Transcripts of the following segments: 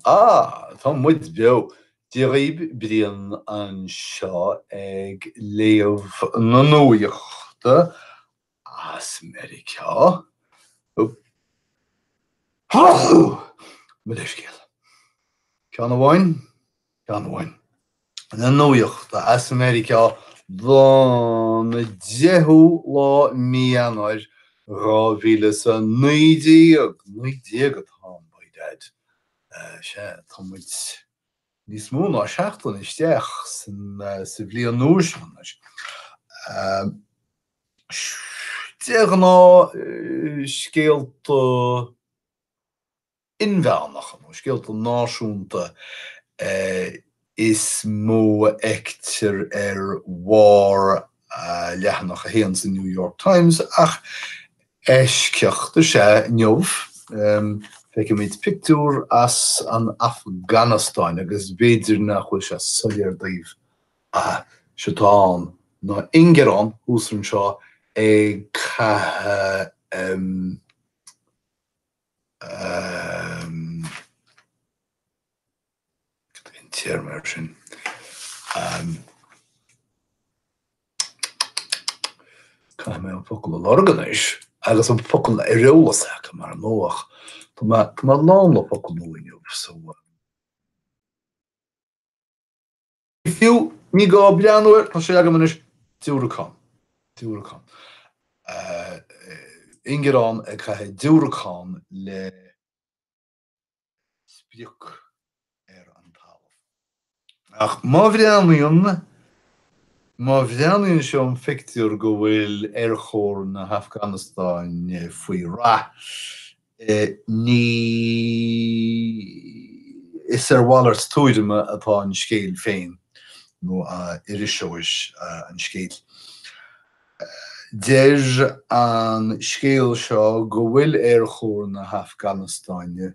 Á, tá muid beo! Dia dhíbh, Brian anseo ag léamh na nuaíochta as Meiriceá. Mo leithscéal. Ceann amháin? Léamh na nuaíochta as Meiriceá don 10ú lá Mí Eanáir, 2019, naoi déag atá ann, by dad. Sea, tá muid níos mó ná seachtain isteach sa bhliain nua seo anois. De ghnáth, scéalta inmheánacha nó scéalta náisiúnta is mó a fheictear ar bharr leathanach a haon sa New York Times ach eisceacht is ea inniu. Feicimid pictiúr as an Afganastáin agus b'fhéidir nach bhfuil sé soiléir daoibh ach eitleán nó ingearán thuas ansin ag caitheamh an téarma air sin? Caithfidh mé an focal a lorg anois agus an focal ar eolas agam ar ndóigh. Tá mé lán le focal nua inniu, so Fiú, ní gá breathnú air, tá sé agam anois, diúracán, diúracán. Ingearán ag caitheamh diúracán le sprioc ar an talamh. Ach má mhíníonn, má mhíníonn seo an pictiúr go bhfuil Aerchór na hAfganastáine faoi rath ní, is ar mhalairt tuairime atá an scéal féin nó iriseoir an scéil. Deir an scéal seo go bhfuil Aerchór na hAfganastáine,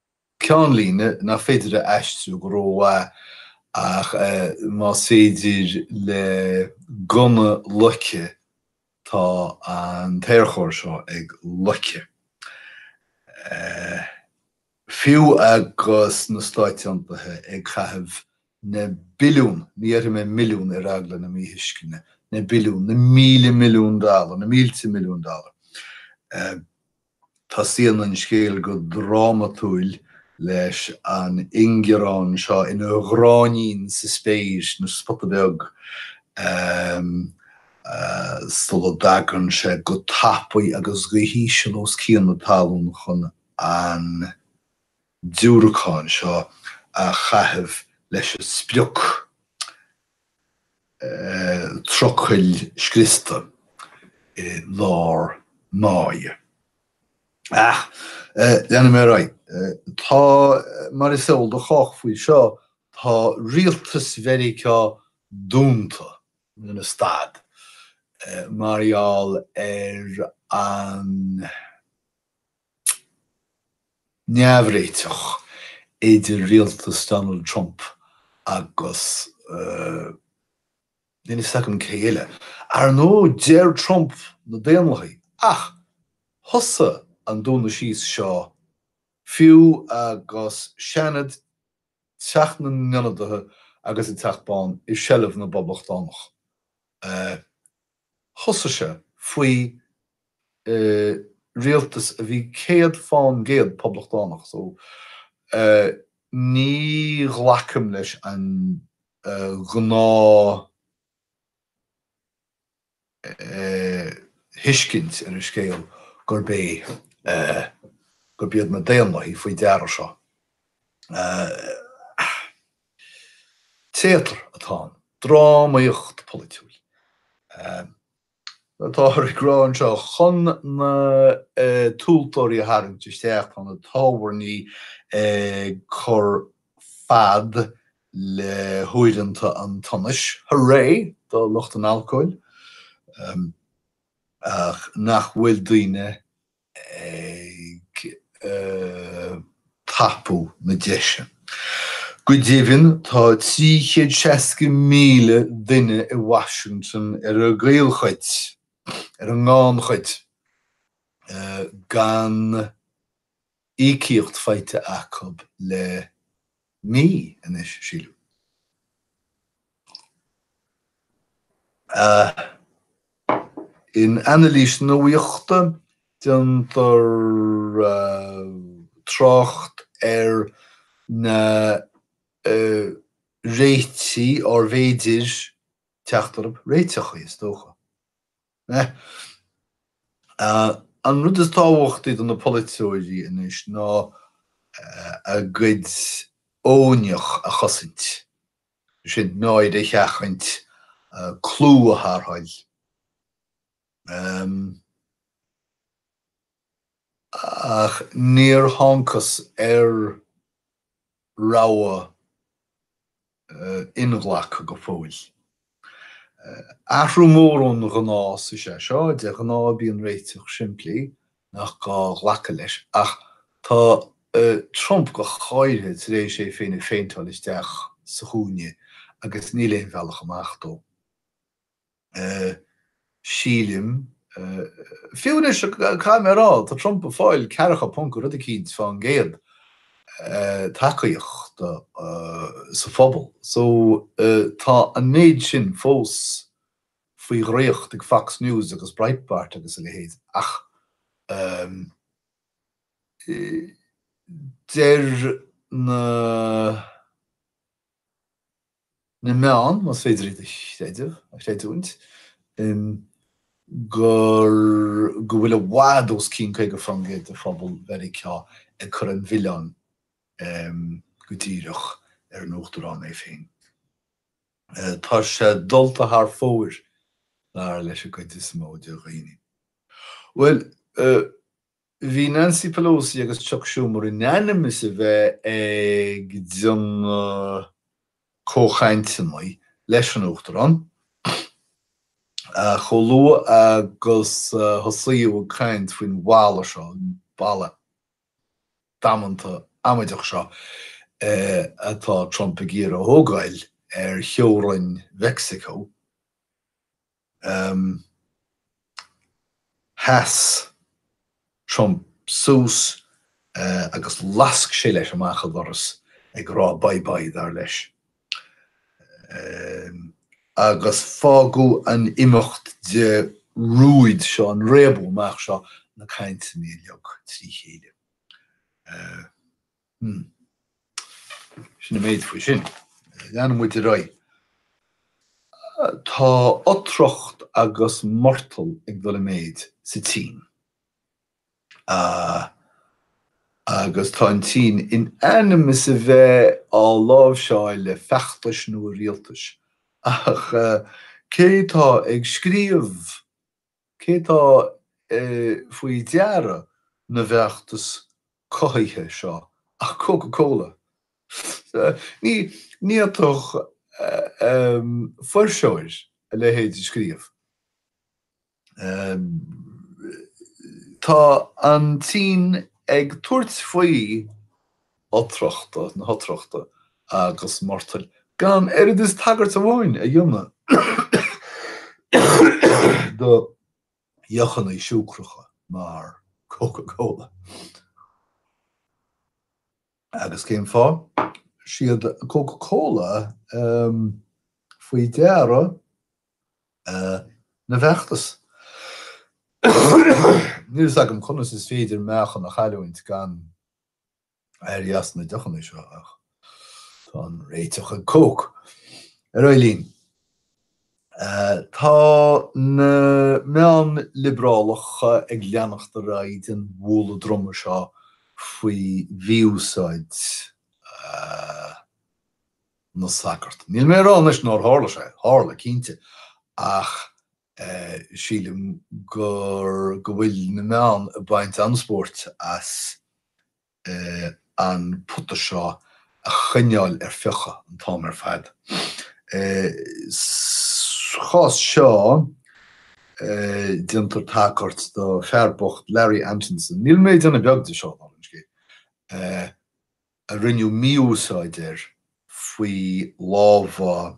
ceannlíne nach féidir a aistriú go rómhaith ach más féidir le gunna loiceadh tá an tAerchór seo ag loiceadh. Fiú agus na Stáit Aontaithe ag caitheamh na billiúin, ní dhéarfaidh mé milliún ar eagla na míthuisceana, na billiúin, na míle milliún dollar, na mílte milliún dollar, Tosaíonn an scéal go drámatúil leis an ingearán seo ina ghráinnín sa spéir is ina spota beag, sula dtagann sé go tapaidh agus go híseal os cionn na talún chun an. diúracán seo a chaitheamh leis an sprioc trucail scriosta i lár máighe. Ach leanfaidh mé ar aghaidh. Tá, mar is eol do chách faoi seo, tá rialtas Mheiriceá dúnta ina stad mar gheall ar an. neamhréiteach idir rialtas Donald Trump agus níl a fhios agam cé eile. Ar ndóigh, deir Trump na Daonlathaigh, ach thosaigh an dúnadh síos seo fiú agus Seanad, Teach na nIonadaithe agus an Teach Bán i seilbh na bPoblachtánach. Thosaigh sé faoi rialtas a bhí céad fán gcéad poblachtánach so ní ghlacaim leis an ngnáth-thuiscint ar an scéal gurb é, gurb iad na Daonlathaigh faoi deara seo. Téatar atá ann, drámaíocht pholaitiúil, táthar ag rá anseo, chun na tomhaltóirí a tharraingt isteach, tá na tábhairní ag cur fad le huaireanta an tsonais, hurray do lucht an alcóil, ach nach bhfuil daoine ag tapú na deise. Go deimhin, tá 360,000 duine i Washington ar an gcaolchuid, ar an ngannchuid, gan íocaíocht faighte acu le mí anois, sílim. In anailís nuaíochta, déantar trácht ar na réitigh arbh fhéidir teacht orthu, réiteachaí, is dócha. An rud is tábhachtaí do na polaiteoirí anois ná a gcuid oineach a chosaint, sin náire a sheachaint, clú a tharrtháil, ach níor thángthas ar rogha inghlactha go fóill. Athrú mór ón ngnás is ea seo, de ghnáth bíonn réiteach simplí nach gá glacadh leis, ach tá Trump go háirithe tar éis é féin a phéinteáil isteach sa chúinne agus níl aon bhealach amach dó. sílim, fiú anois, caithfidh mé a rá, tá Trump ag fáil ceathracha ponc i rud eicínt fán gcéad tacaíocht sa phobal so tá an méid sin fós faoi dhraíocht ag Fox News agus Breitbart agus a leithéid ach deir na. na meáin, más féidir iad a chreideamh, a chreidiúint, gur, go bhfuil i bhfad os cionn 50% de phobal Mheiriceá ag cur an mhilleáin go díreach ar an Uachtarán é féin. Tá sé dulta thar fóir, dar leis an gcuid is mó de dhaoine. Bhuel, Bhí Nancy Pelosi agus Chuck Schumer in ainm is a bheith ag déanamh comhchainteanna leis an Uachtarán chomh luath agus tosaíodh ag caint faoin bhalla seo, an balla damanta amaideach seo atá Trump ag iarraidh a thógáil ar theorainn Mheicsiceo. um sheas Trump suas agus lasc sé leis amach an doras ag rá bye bye, dar leis. um agus fágadh an imeacht de rúid seo, an réabadh amach seo, na cainteanna uilig trí chéile. um. Hm. Sin an méid faoi sin. Leanann muid ar aghaidh. Tá otracht agus murtall ag dul i méid sa tSín. Agus tá an tSín in ainm is a bheith á láimhseáil le feachtais nua rialtais. Ach cé atá ag scríobh? Cé tá faoi deara na bhfeachtas cothaithe seo ach Coca Cola. Ní fhéadfadh fuirseoir a leithéid a scríobh. Tá an tSín ag tabhairt faoi otrachta na hotrachta agus murtaill, gan oiread is tagairt amháin a dhéanamh do dheochanna siúcracha mar Coca Cola. Agus cén fáth? 'Siad Coca Cola faoi deara na bhfeachtas. Níl 's agam conas is féidir meáchan a chailliúint gan. éirí as na deochanna seo ach tá an réiteach ag Coke. Ar aghaidh linn. Tá na meáin liobrálacha ag leanacht ar aghaidh den bhualadh droma seo faoi mhí-úsáid na sagart. Níl mé ag rá anois nár tharla sé, tharla, cinnte, ach sílim gur go bhfuil na meáin ag baint an-spóirt as an pota seo a choinneáil ar fiuchadh an t-am ar fad. Sa chás seo, déantar tagairt do fear bocht, Larry Antonsen, níl mé ag déanamh beag de seo, dála an scéil, a rinneadh mí-úsáid air fá lámha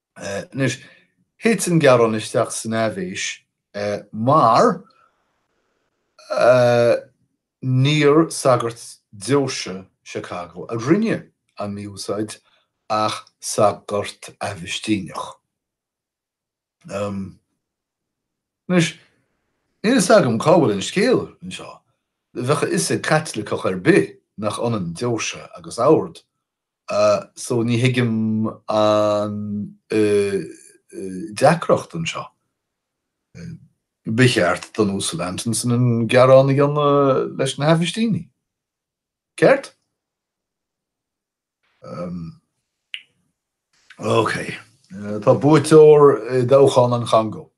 Anois, thit an gearán isteach san aibhéis mar níor sagart deoise Chicago a rinne an mí-úsáid ach sagart Agaistíneach. Anois, níl fhios agam cá bhfuil an scéal anseo. Bheadh a fhios ag Caitliceach ar bith nach ionann deoise agus ord. So ní thuigim an deacracht anseo. Ba cheart don Uasal Antonsen an gearán a dhéanamh leis na hAgaistínigh. Ceart? OK. Tá buaiteoir i dtoghchán an Chongó.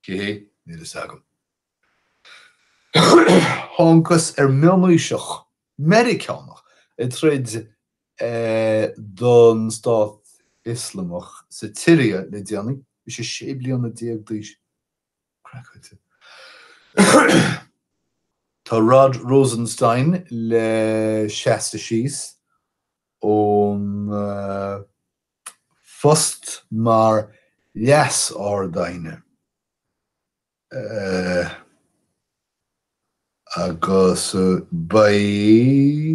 Cé hé? Níl fhios agam. Thángthas ar mhílíseach Meiriceánach ag troid don Stát Ioslamach sa tSiria le déanaí. Bhí sé sé bliana déag d'aois. Craiceáilte. Tá Rod Rosenstein le seasamh síos ón. phost mar Leas-Ard-Aighne agus beidh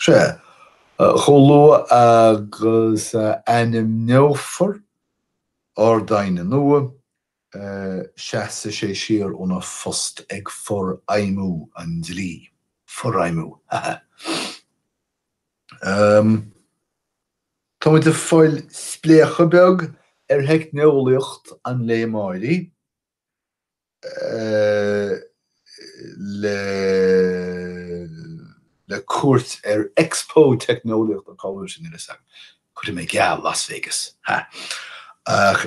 sé, chomh luath agus a ainmneofar Ard-Aighne nua, seasfaidh sé siar óna phost ag forfheidhmiú an dlí. Forfheidhmiú, ha ha. Ahm, tá muid ag fáil spléachadh beag ar theicneolaíocht an lae amárach. le cuairt ar Expo Teicneolaíochta Cá bhfuil sé sin anois agam, cuirfidh mé geall, Las Vegas, ha! Ach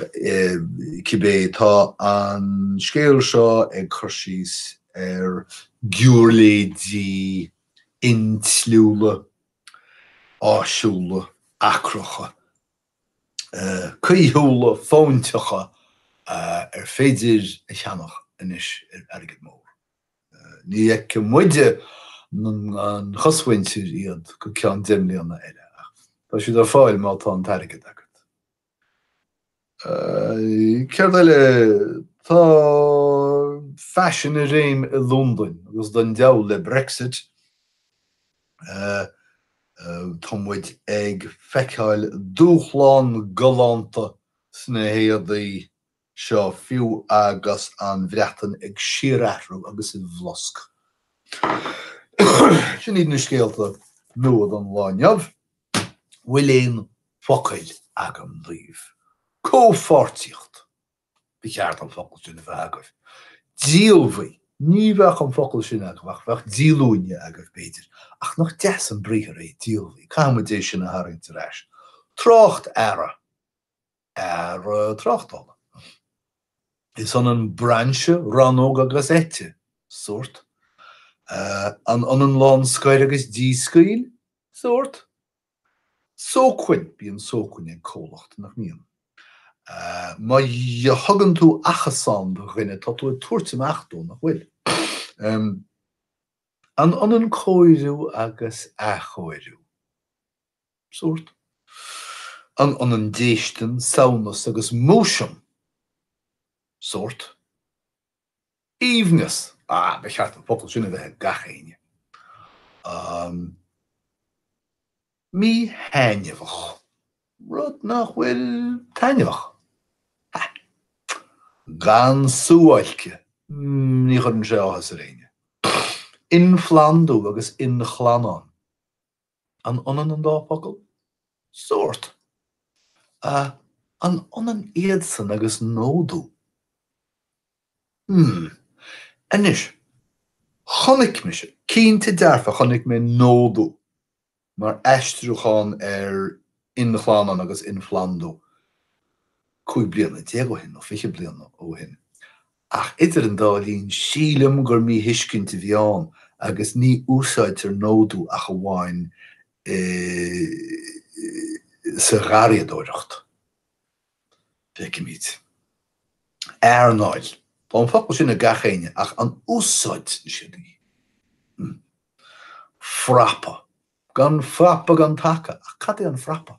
cibé, tá an scéal seo ag cur síos ar ghiúirléidí intliúla, áisiúla, acracha, caoithiúla, fóinteacha ar féidir a cheannach anois ar airgead mór. Ní fheicfidh muide, an chosmhuintir, iad go ceann deich mbliana eile, ach tá siad ar fáil má tá an t-airgead agat. Céard eile? Tá faisean i réim i Londain, agus don deabhal le Brexit. tá muid ag feiceáil dúshlán galánta sna héadaí seo fiú agus an Bhreatain ag síorathrú agus i bhflosc. Sin iad na scéalta nua don lá amháin. Bhfuil aon focail agam daoibh? Comhpháirtíocht. ba cheart an focal sin a bheith agaibh. Díolmhaigh, ní bheadh an focal sin agaibh ach bheadh díolúine agaibh, b'fhéidir, ach nach deas an briathar é díolmhaigh, caithfidh muid é sin a tharraingt ar ais. Tráchtearra, earra tráchtála. An ionann brainse, rannóg agus eite, sórt. An ionann lánscoir agus díscaoil? Sórt. sócmhainn, bíonn sócmhainn ag comhlacht, nach mbíonn? má thugann tú achasán do dhuine tá tú ag tabhairt amach dó, nach bhfuil? an ionann cóiriú agus athchóiriú? sórt, an ionann déistin, samhnas agus múisiam? sórt. Aoibhneas, ah, ba cheart an focal sin a bheith ag gach éinne. Míthaitneamhach, rud nach bhfuil taitneamhach. Ha! Gan suáilce, mm, ní chuireann sé áthas ar éinne. Inphlandú agus inchlannán. An ionann an dá fhocal? Sórt. A, an ionann iadsan agus nódú? Hm. Anois, chonaic mise, cinnte dearfa chonaic mé nódú mar aistriúchán ar inchlannán agus inphlandú cúig bliana déag ó shin nó fiche bliana ó shin Ach idir an dá linn, sílim gur míthuiscint a bhí ann agus ní úsáidtear nódú ach amháin i. sa gharraíodóireacht. Feicimid. earnáil. Tá an focal sin ag gach éinne ach an úsáideann siad é? Hm. frapa. Gan frapa gan taca. Ach cad é an frapa?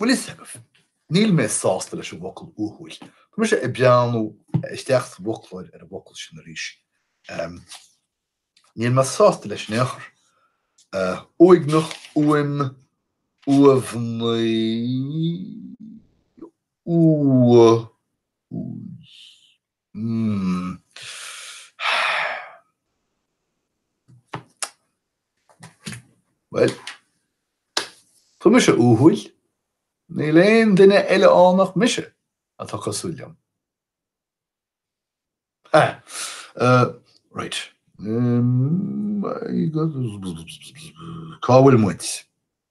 Bhfuil fhios agat, níl mé sásta leis an bhfocal uathúil. Tá mise ag breathnú isteach sa bhfoclóir ar an bhfocal sin arís. Níl mé sásta leis in aon chor. Uaigneach, uaim, uamhnaí, uathúil. Bhuel. Tá mise uathúil. Níl aon duine eile ann ach mise atá cosúil liom. Ah, uh, right. Um, Cá bhfuil muid?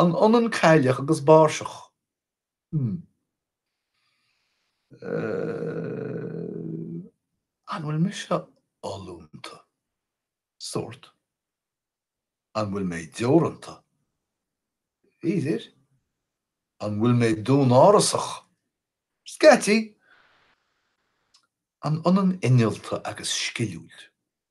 An ionann cailleach agus báirseach? Mmm. Eh. An bhfuil mise oiliúnta? Sórt. An bhfuil mé deoranta? B'fhéidir. An bhfuil mé dúnárasach? Scaití. An ionann innealta agus sciliúil?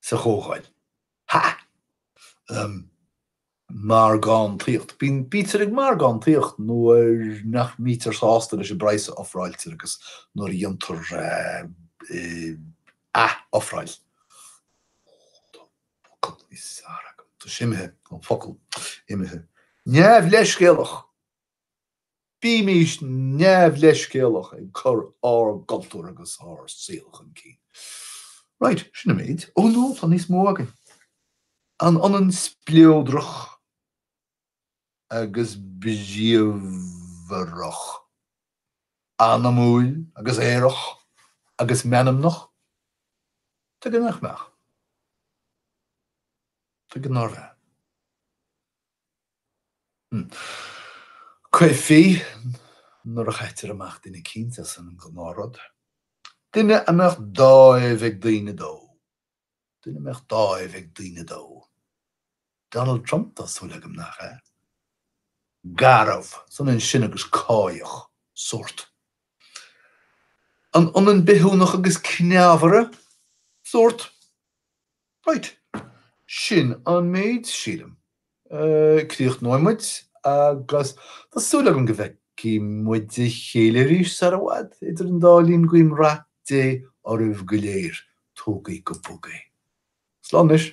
sa Chomhdháil. Ha! Margántaíocht. Bítear bítear ag margántaíocht nuair nach mbítear sásta leis an bpraghas a ofráiltear agus nuair a dhéantar ath-ofráil. Tá an focal níos fearr agam. Tá sé imithe, an focal. Imithe. Neamhleithscéalach. Bímis neamhleithscéalach ag cur ár gcultúr agus ár saol chun cinn. Right, sin an méid. Oh no, tá níos mó agam. An ionann spleodrach agus bríomhar? Anamúil agus aerach agus meanmnach? Tuige nach mbeadh? Tuige nár bheadh? Caithfidh, nuair a chaitear amach duine cinnte as an ngnáth-rud, duine a mbeadh dáimh ag daoine dó, duine a mbeadh dáimh ag daoine dó. Donald Trump, tá súil agam, nach ea? Garbh, is ionann sin agus cáidheach, sórt. An ionann bithiúnach agus cneámhaire? Sórt. Right. Sin an méid, sílim. Críochnóidh muid agus tá súil agam go bhfeicfidh muid a chéile arís sar i bhfad. Idir an dá linn guím rath Dé oraibh go léir. Tógaí go bog é. Slán anois.